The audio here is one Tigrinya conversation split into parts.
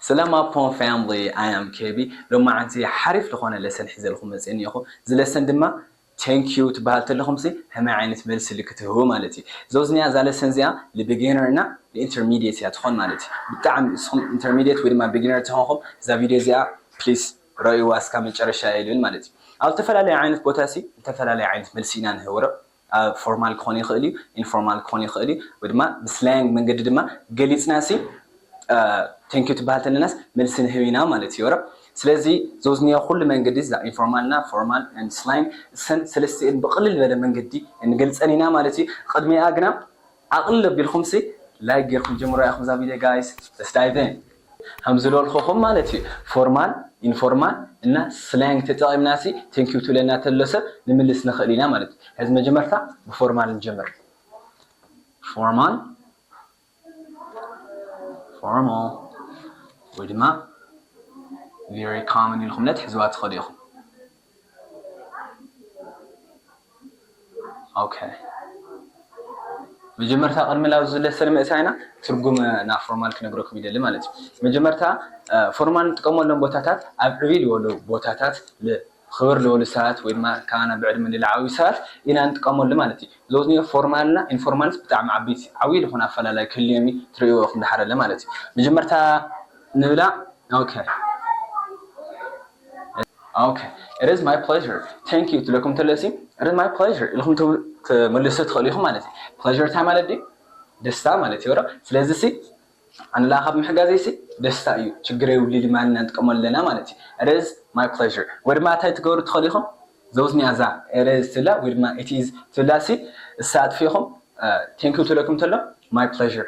ሰላም ኣፖ ፋምሊ ኣይ ኣም ኬቢ ሎማዓንቲ ሓሪፍ ልኾነ ለሰን ሒዘልኹም መጼ እኒኤኹ እዚ ለሰን ድማ Thank you ትባሃል ተለኹምሲ ሀመይ ዓይነት መልሲ ልኪ ትህቡ ማለት እዩ ዞዝኒያ እዛ ለሰን እዚኣ ል Beginner እና ል Intermediate እያ ትኾን ማለት እዩ ብጣዕሚ እስኹም Intermediate ወይ ድማ Beginner ተኾንኹም እዛ ቪድዮ እዚኣ Please ረእይዋ እስካብ መጨረሻ እየ ልብል ማለት እዩ ኣብ ልተፈላለየ ዓይነት ቦታሲ ልተፈላለየ ዓይነት መልሲ ኢና ንህብ ወረብ ፎርማል ክኾን ይኽእል እዩ፣ ኢንፎርማል ክኾን ይኽእል እዩ፣ ወይ ድማ ብስላያንግ መንገዲ ድማ ገሊጽናሲ ቴንኪው ትበሃል ተለናስ መልሲ ንህብ ኢና ማለት እዩ ኦረ። ስለዚ ዘውዝንዮ ኩሉ መንገዲ እዛ ኢንፎርማልና ፎርማል ኤንድ ስላይንግ እሰን ሰለስቲኤን ብቕልል ዝበለ መንገዲ ንገልጸን ኢና ማለት እዩ። ቕድሚኣ ግና ዓቅሊ ለቢልኩምሲ ላይክ ጌርኩም ጀምርዋ ኢኩም እዛ ቪድዮ ጋይስ እስታይቨን። ሃምዝሎልኹኹም ማለት እዩ ፎርማል ኢንፎርማል እና ስላንግ ተጠቂምናሲ thank you ትብለና ተሎ ሰብ ንምልስ ንኽእል ኢና ማለት እዩ ሐዚ መጀመርታ ብፎርማል ንጀምር ፎርማል ፎርማል ወይ ድማ very common ኢልኹም ነትሕዝዋ ትኽእሉ ኢኹም። ኦከ መጀመርታ ቅድሚ ናብ ዝለሰን ምእታይና ትርጉም ናብ ፎርማል ክነግረኩም ይደሊ ማለት እዩ መጀመርታ ፎርማል ንጥቀመሎም ቦታታት ኣብ ዕብይ ዝበሉ ቦታታት ክብር ዝበሉ ሰባት ወይ ድማ ካባና ብዕድመ ንላዓዊ ሰባት ኢና ንጥቀመሉ ማለት እዩ ዞኒ ፎርማልና ኢንፎርማልስ ብጣዕሚ ዓበይቲ ዓብይ ዝኾነ ኣፈላላይ ክህልዮም እዩ ትርእይዎ ኢኹም ድሓረለ ማለት እዩ መጀመርታ ንብላ ኦኬ ኦኬ ኢት ኢዝ ማይ ፕለዠር ታንክ ዩ ትብለኩም እንተለሲ ኢት ኢዝ ማይ ፕለዠር ኢልኩም ክትምልሱ ትኽእሉ ኢኹም ማለት እዩ ፕለዠር እንታይ ማለት ድዩ ደስታ ማለት እዩ ዶ ስለዚ ሲ ኣንላ ካብ ምሕጋዘይ ሲ ደስታ እዩ ችግር የብሉ ልማን ኢና ንጥቀመሉ ኣለና ማለት እዩ ኢት ኢዝ ማይ ፕለዠር ወይ ድማ እንታይ ትገብሩ ትኽእሉ ኢኹም ዘውዝኒያ እዛ ኢት ኢዝ ትብላ ወይ ድማ ኢት ኢዝ ትብላ ሲ እሳ ኣጥፊእኹም ታንክ ዩ ትብለኩም እንተሎ ማይ ፕለዠር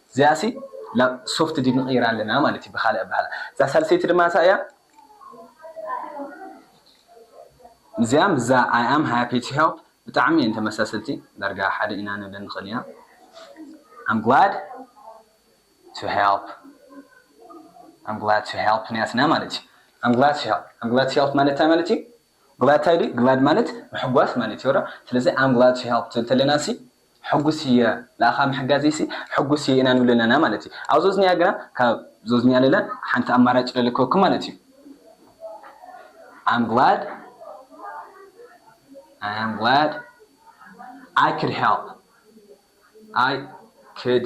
እዚኣሲ ናብ ሶፍት ዲድ ንቕይራ ኣለና ማለት እዩ ብኻልእ ኣበሃህላ። እዛ ሳልሰይቲ ድማ እንታይ እያ? እዚኣ ምስዛ ኣይ ኣም ሃፒ ቱ ሄልፕ ብጣዕሚ እየን ተመሳሰልቲ፣ ዳርጋ ሓደ ኢና ንብለን ንኽእል ኢና። ኣም ግላድ ቱ ሄልፕ ኣም ግላድ ቱ ሄልፕ ናትና ማለት እዩ። ኣም ግላድ ቱ ሄልፕ ኣም ግላድ ቱ ሄልፕ ማለት እንታይ ማለት እዩ? Glad ታይ ድዩ Glad ማለት ምሕጓስ ማለት እዮ ዶ ስለዚ I'm glad to help ትብል ተለና ሲ ሕጉስ እየ ንኣኻ ምሕጋዘይ ሲ ሕጉስ እየ ኢና ንብል ኣለና ማለት እዩ ኣብ ዞዝንያ ግና ካብ ዞዝንያ ለለ ሓንቲ ኣማራጭ ለልከኩም ማለት እዩ I'm glad I am glad I could help I could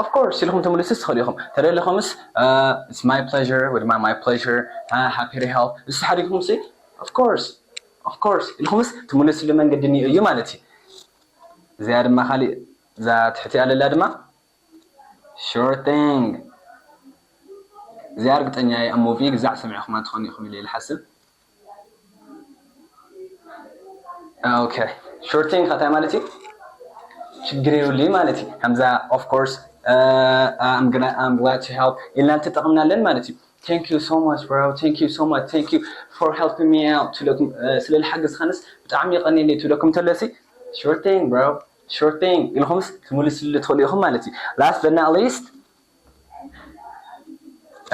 Of course ኢልኩም ትምልሱስ ትክእሉ ኢኩም ተደሊኩምስ It's my pleasure ወይ ድማ my pleasure ሃ happy to help ንሱ ሓዲግኩምሲ Of course Of course ኢልኩምስ ትምልስሉ መንገዲ እኒኦ እዩ ማለት እዩ። እዚኣ ድማ ካሊእ እዛ ትሕቲኣ ለላ ድማ Sure thing እዚኣ ርግጠኛ እየ ኣብ movie ግዛዕ ሰሚዕኩማ ትኮኑ ኢኩም ኢለ እየ ዝሓስብ። ኦኬ ሾርቲንግ ከ እንታይ ማለት እዩ ችግር የብሉይ ማለት እዩ ከምዛ ኦፍ ኮርስ ኣም ግና ኣም ግላድ ቱ ሄልፕ ኢልና እንተጠቕምናለን ማለት እዩ ቴንክ ዩ ሶ ማች ብሮ ቴንክ ዩ ሶ ማች ቴንክ ዩ ፎር ሄልፕ ሚ ኣውት ትብለኩም ስለ ዝሓገዝካንስ ብጣዕሚ የቐኒየለይ ትብለኩም ተለሲ ሾርቲንግ ብሮ ሾርቲንግ ኢልኩምስ ትምልስሉ ትኽእሉ ኢኹም ማለት እዩ ላስት በት ናት ሊስት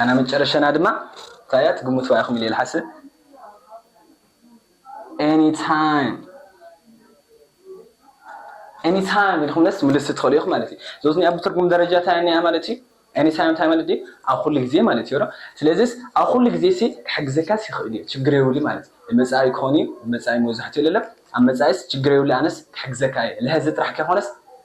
ኣና መጨረሸና ድማ እንታይ እያ ትግምትዋ ኢኹም ኢለ ልሓስብ ኤኒታይም ኤኒታይም ኢልኩምለስ ምልስ ትኽእሉ ኢኹም ማለት እዩ ዞት ኒኣ ብትርጉም ደረጃ እንታይ እኒኣ ማለት እዩ ኤኒታይም እንታይ ማለት ድዩ ኣብ ኩሉ ግዜ ማለት እዩ ዶ ስለዚስ ኣብ ኩሉ ግዜ ሲ ክሕግዘካስ ይኽእል እዩ ችግር የብሉ ማለት እዩ መፃኢ ክኾን እዩ መፃኢ መብዛሕትኡ ለለ ኣብ መፃኢስ ችግር የብሉ ኣነስ ክሕግዘካ እየ ልሀዚ ጥራሕ ከይኮነስ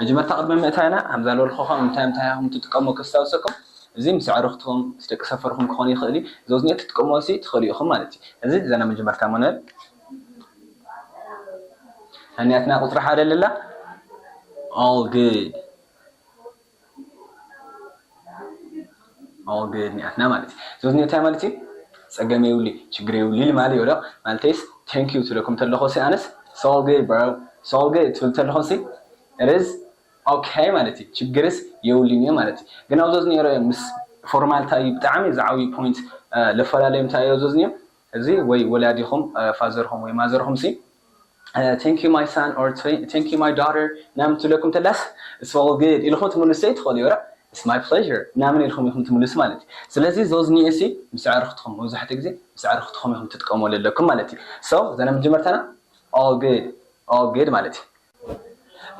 መጀመርታ ቅድሚ ምእታይና ከምዛ ዝበልኩኹም እንታይ እንታይ ከም እትጥቀሙ ከስታውሰኩም እዚ ምስ ኣዕርኽትኩም ምስ ደቂ ሰፈርኩም ክኾን ይኽእል እዩ ዘውዝኔ ክትጥቀሙ ሲ ትኽእሉ ኢኹም ማለት እዩ እዚ ዘና መጀመርታ መኖል ሰኒያትና ቁፅሪ ሓደ ለላ all good ኣወገድኒኣትና ማለት እዩ ዞትኒ እንታይ ማለት እዩ ጸገም የብሉይ ችግር የብሉይ ኢሊ ማለት ይወደቕ ማለተይስ thank you ትብለኩም ተለኹሲ ኣነስ it's all good bro it's all good ትብል ተለኹሲ it is okay ማለት እዩ ችግርስ የብሉይን እዩ ማለት እዩ ግን ኣብ ዞትኒ ሮዮ ምስ ፎርማልታ እዩ ብጣዕሚ ዝዓብዩ ፖይንት ለፈላለዮም እንታይ እዮ ዞትኒ እዚ ወይ ወላዲኹም ፋዘርኹም ወይ ማዘርኹም ሲ Thank you my son or Thank you my daughter ምናምን ትብለኩም ተላስ It's all good ኢልኹም ትምልሱ ዘይትኽእሉ ዮር It's my pleasure ምናምን ኢልኹም ኢኹም ትምልሱ ማለት እዩ ስለዚ ዞዝኒኤ ሲ ምስ ኣዕርኽትኹም መብዛሕትኡ ግዜ ምስ ኣዕርኽትኹም ኢኹም ትጥቀምዎ ለለኩም ማለት እዩ So እዛ ናይ መጀመርታና All good All good ማለት እዩ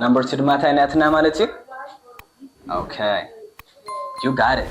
Number two ድማ እንታይ ናትና ማለት እዩ Okay You got it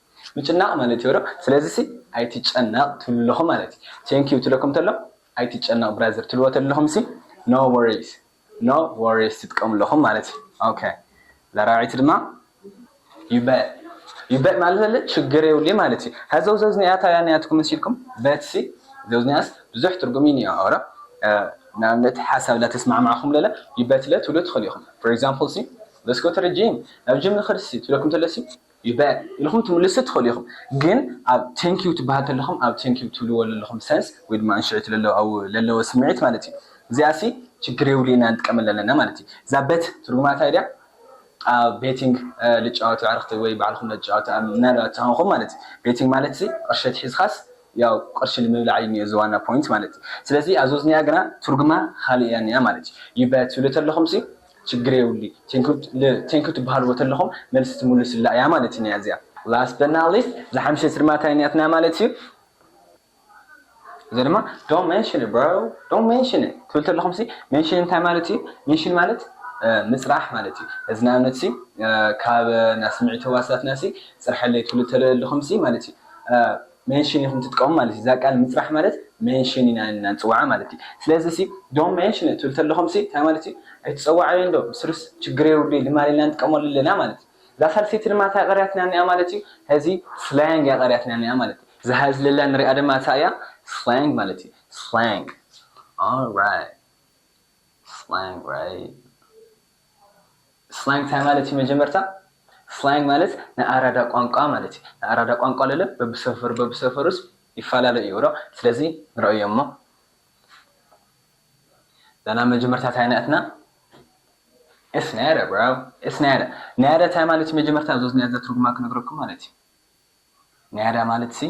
ምጭናቅ ማለት እዮ ዶ ስለዚ ሲ ኣይትጨነቅ ትብሉ ኣለኹም ማለት እዪ thank you ትብለኩም ተሎ ኣይትጨነቅ ብራዘር ትብልዎ ተለኹም ሲ no worries no worries ትጥቀሙ ኣለኹም ማለት እዪ ok ለራዒት ድማ you bet you bet ማለት ለለ ችግር የብሉይ ማለት እዪ ሀዘው ዘውዝኒኣ ታያ ንያትኩም ሲ ኢልኩም bet ሲ ዘውዝኒኣስ ብዙሕ ትርጉም እዪ ኒኦ ኦሮ ንኣብነት ሓሳብ ላተስማዕማዕኹም ለለ you bet ለ ትብሉ ትኽእሉ ኢኹም for example ሲ let's go to the gym ናብ ጅም ንኽድ ሲ ትብለኩም ተሎ ሲ you bet ኢልኩም ትምልሱ ትክእሉ ኢኩም ግን ኣብ thank you ትባሃል ተለኩም ኣብ thank you ትብልዎ ለለኩም sense ወይ ድማ እንሽዒቱ ለለዎ ኣብ ለለዎ ስምዒት ማለት እዩ እዚኣ ሲ ችግር የብሉ ኢና ንጥቀመላ ኣለና ማለት እዩ እዛ bet ትርጉማ ታይ ድያ ኣብ betting ልጫወቱ ኣዕርክቲ ወይ ባዕልኩም ለትጫወቱ ምናልባት ተኮንኩም ማለት እዩ betting ማለት ሲ ቅርሺ ኣትሒዝካስ ያው ቅርሺ ንምብላዕ እዩ ኒኦ እዚ ዋና ፖይንት ማለት እዩ ስለዚ ኣብዚ ወዝኒኣ ግና ትርጉማ ካሊእ እያ ኒኣ ማለት እዩ you bet ትብሉ ተለኩም ሲ ችግር የብሉይ ቴንኪው ትበሃልዎ ተለኹም መልሲ ትምሉስላ እያ ማለት እያ እዚኣ። Last but not least ዝሓምሸ ስድማ ታይነትና ማለት እዩ እዚ ድማ don't mention it bro don't mention it ትብል ተለኹም ሲ mention እንታይ ማለት እዩ mention ማለት ምፅራሕ ማለት እዩ እዚ ንኣብነት ሲ ካብ ናይ ስምዒት ህዋሳትና ሲ ፅርሐለይ ትብሉ ተለኹም ሲ ማለት እዩ መንሽን ኢኹም ትጥቀሙ ማለት እዩ። እዛ ቃል ምጽራሕ ማለት መንሽን ኢና ኢልና ንጽውዓ ማለት እዩ። ስለዚሲ ዶንት መንሽን ኢት ትብሉ ተለኹምሲ እንታይ ማለት እዩ? ኣይትጸውዓዮንዶ፣ ብስሩስ ችግር የብሉይ ልማድ ኢልና ንጥቀመሉ ኣለና ማለት እዩ። እዛ ሳልሰይቲ ድማ እንታይ ቀሪያትና እኒኣ ማለት እዩ? ሐዚ ስላንግ እያ ቀሪያትና እኒኣ ማለት እዩ። እዛ ሐዚ ለላ ንሪኣ ድማ እታ እያ ስላንግ ማለት እዩ። ስላንግ። Alright። ስላንግ right። ስላንግ ታይ ማለት እዩ መጀመርታ? ስላንግ ማለት ናይ ኣራዳ ቋንቋ ማለት እዩ ናይ ኣራዳ ቋንቋ ለለ በብሰፈሩ በብሰፈሩስ ይፋላለ እዩ እሮ ስለዚ ንረእዮ እሞ ላና መጀመርታ ታይ ናትና እስ ናያዳ ብሮ እስ ናያዳ ናያዳ ታይ ማለት እዩ መጀመርታ ዞዝናያ ዘትርጉማ ክነግረኩም ማለት እዩ ናያዳ ማለት ሲ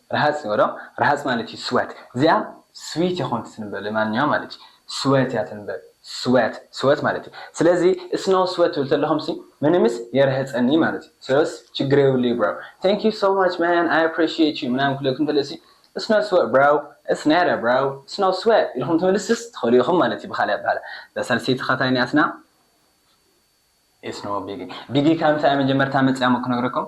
ረሃጽ ኒኦ ዶ ረሃጽ ማለት እዩ ስወት እዚኣ ስዊት የኮንት ትንበ ለማንኛውም ማለት እዩ ስወት እያ ትንበ ስወት ስወት ማለት እዩ ስለዚ እስኖ ስወት ትብል ተለኩም ሲ ምንምስ የርህጸኒ ማለት እዩ ሰለስ ችግር የብሉ እዩ ብሮ thank you so much man i appreciate you ምናምን ክብለኩም ተለ ሲ እስኖ ስወት ብሮ it's nada ብሮ እስኖ ስወት ኢልኩም ትምልስስ ትክእሉ ኢኩም ማለት እዩ ብካልእ ኣባህላ እዛ ሳልሰይቲ ከ ታይ ኒኣትና it's no biggie ቢጊ ካብ ምንታይ እያ መጀመርታ መጺኣ እሞ ክነግረኩም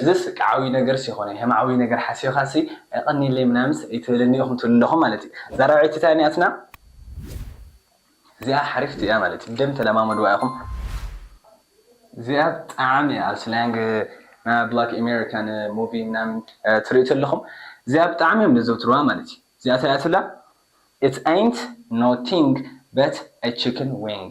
እዝስ ዓብይ ነገርስ የኾነይ ሀም ዓብይ ነገር ሓሲብኻሲ ኣይቀንየለይ ምናምንስ ኣይትበለኒ ኢኹም ትብሉ ኣለኹም ማለት እዩ እዛ ራብዐይቲ ታይ ኒኣትና እዚኣ ሓሪፍቲ እያ ማለት እዩ ብደምብ ተለማመድዋ ኢኹም እዚኣ ብጣዕሚ እያ ኣብ ስላንግ ና ብላክ ኤሜሪካን ሙቪ ምናምን ትሪኡ ተለኹም እዚኣ ብጣዕሚ እዮም ዘዘውትርዋ ማለት እዩ እዚኣ ታይ እያ ትብላ ኢትስ ኣይንት ኖቲንግ በት ኣይ ቺክን ዊንግ